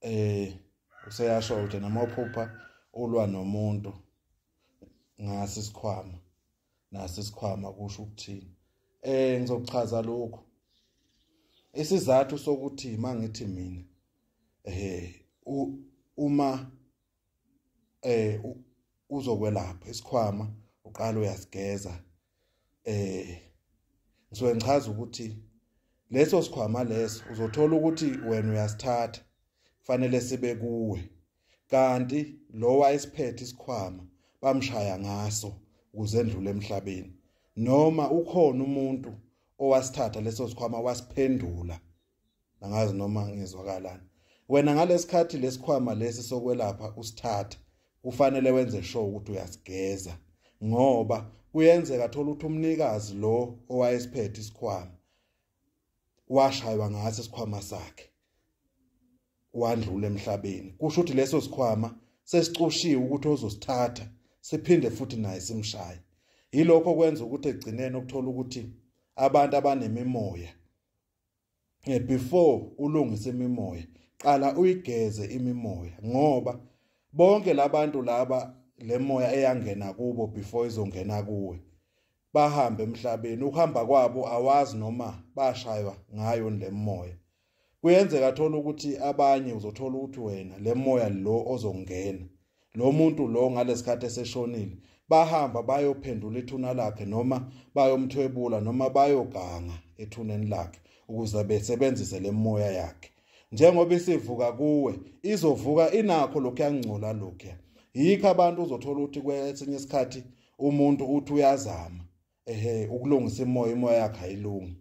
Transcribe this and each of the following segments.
eh useyasho ukuthi noma uphupha ulwa nomuntu ngasi sikhwama nasi sikhwama kusho ukuthini eh ngizochaza lokho isizathu sokuthi mangithi mina eh uma eh uzokwelapha isikhwama uqala uyasigeza eh ngisuke ngichaza ukuthi leso sikhwama leso uzothola ukuthi wena uyasithatha kufanele sibe kuwe kanti lo wayesiphethe isikhwama bamshaya ngaso ukuze endlule emhlabeni noma ukhona umuntu owasithatha leso sikhwama wasiphendula angazi noma ngizwakalana wena ngalesikhathi lesikhwama lesi sokwelapha usithatha kufanele wenze sure ukuthi uyasigeza ngoba kuyenzeka thola ukuthi umnikazi lo owayesiphethe isikhwama washaywa ngaso isikhwama sakhe wandlula emhlabeni kusho ukuthi leso sikhwama sesicushiwe ukuthi ozosithatha siphinde futhi naye simshaye yilokho kwenza ukuthi egcineni ukuthola ukuthi abantu abanemimoya eh, before ulungise imimoya qala uyigeze imimoya ngoba bonke labantu laba lemoya eyangena kubo before izongena kuwe bahambe emhlabeni ukuhamba kwabo awazi noma bashaywa ngayo lemoya kuyenzeka thola ukuthi abanye uzothola ukuthi wena lemoya lo ozongena lo muntu lo ngalesikhathi eseshonile bahamba bayophendula ithuna lakhe noma bayomthwebula noma bayoganga ethuneni lakhe ukuze besebenzise lemoya yakhe njengoba isivuka kuwe izovuka inakho lokhu yangcola lokhu yikho abantu uzothola ukuthi kwesinye isikhathi umuntu uthi uyazama ehe ukulungisa imoya imoya yakhe ayilungi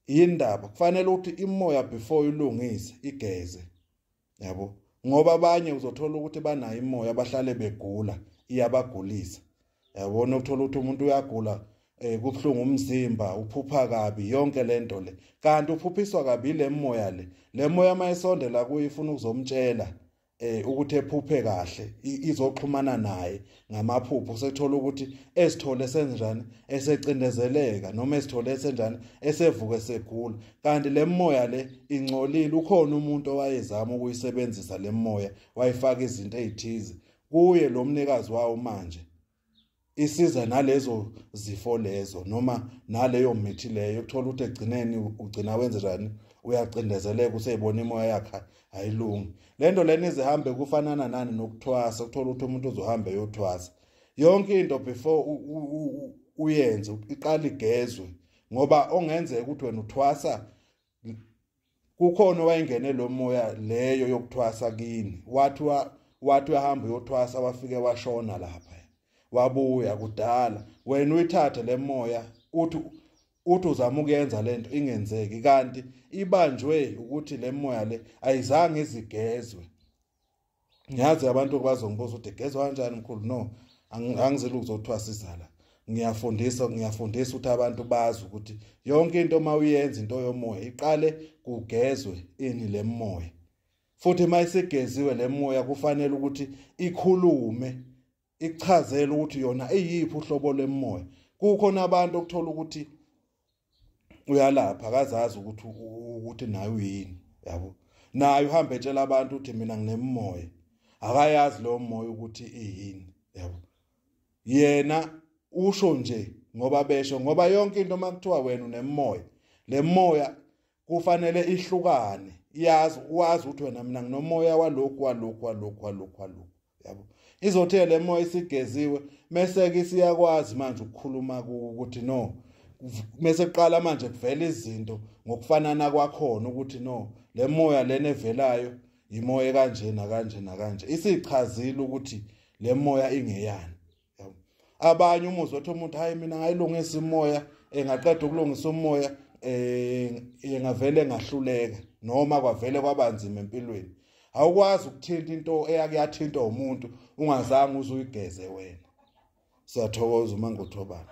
yindaba kufanele ukuthi imoya before ilungise igeze yabo ngoba abanye uzothola ukuthi banayo imoya abahlale begula iyabagulisa yabona ukuthola ukuthi umuntu uyagula eh kubhlungu umzimba uphupha kabi yonke lento le kanti uphuphiswa kabi le moya le le moya mayisondela kuye ifuna ukuzomtshela eh ukuthi ephuphe kahle izoxhumana naye ngamaphupho sekuthola ukuthi esithole senjani esecindezeleka noma esithole senjani esevuke segula kanti le moya le ingcolile ukhona umuntu owayezama ukuyisebenzisa le moya wayifaka izinto ezithize kuye lo mnikazi wawo manje isiza nalezo zifo lezo noma naleyo mithi leyo ukuthola ukuthi egcineni ugcina wenze njani uyacindezeleka useyibona imoya yakhe ayilungi lento lena izihambe kufanana nani nokuthwasa ukuthola ukuthi umuntu uzohambe yothwasa yonke into before uyenze iqala igezwe ngoba ongenzeka ukuthi wena uthwasa kukhona wayengene lo moya leyo yokuthwasa kini wathi wathi uyahamba uyothwasa wafike washona lapha wabuya kudala wena uyithathe le moya uthi uthi uzama ukuyenza lento ingenzeki kanti ibanjwe ukuthi le moya le ayizange izigezwe ngiyazi abantu bazongibuza ukuthi igezwa kanjani mkhulu no angizile ukuzothiwa sizala ngiyafundisa ngiyafundisa ukuthi abantu bazi ukuthi yonke into uma uyenza into yomoya iqale kugezwe ini le moya futhi uma isigeziwe le moya kufanele ukuthi ikhulume ikuchazela ukuthi yona iyiphi uhlobo lemoya kukhona abantu okuthola ukuthi uyalapha akazazi ukuthi ukuthi naye uyini yabo naye uhambe etshela abantu ukuthi mina nginemoya akayazi leyo moya ukuthi iyini yabo yena usho nje ngoba besho ngoba yonke into makuthiwa wena unemoya lemoya kufanele ihlukane iyazi wazi ukuthi wena mina nginomoya walokhu walokhu walokhu walokhu walokhu yabo izothe le moya isigeziwe mese ke siyakwazi manje ukukhuluma ukuthi no mese kuqala manje kuvela izinto ngokufanana kwakhona ukuthi no le moya lena evelayo imoya kanje na kanje na kanje isichazile ukuthi le moya ingeyani yabo abanye umuzi wathi umuntu hayi mina ngayilungisa imoya engaqeda ukulungisa umoya eh engavele ngahluleka noma kwavele kwabanzima empilweni awukwazi ukuthinta into eyake yathintwa umuntu ungazange uzuyigeze wena siyathokoza uma ngothobana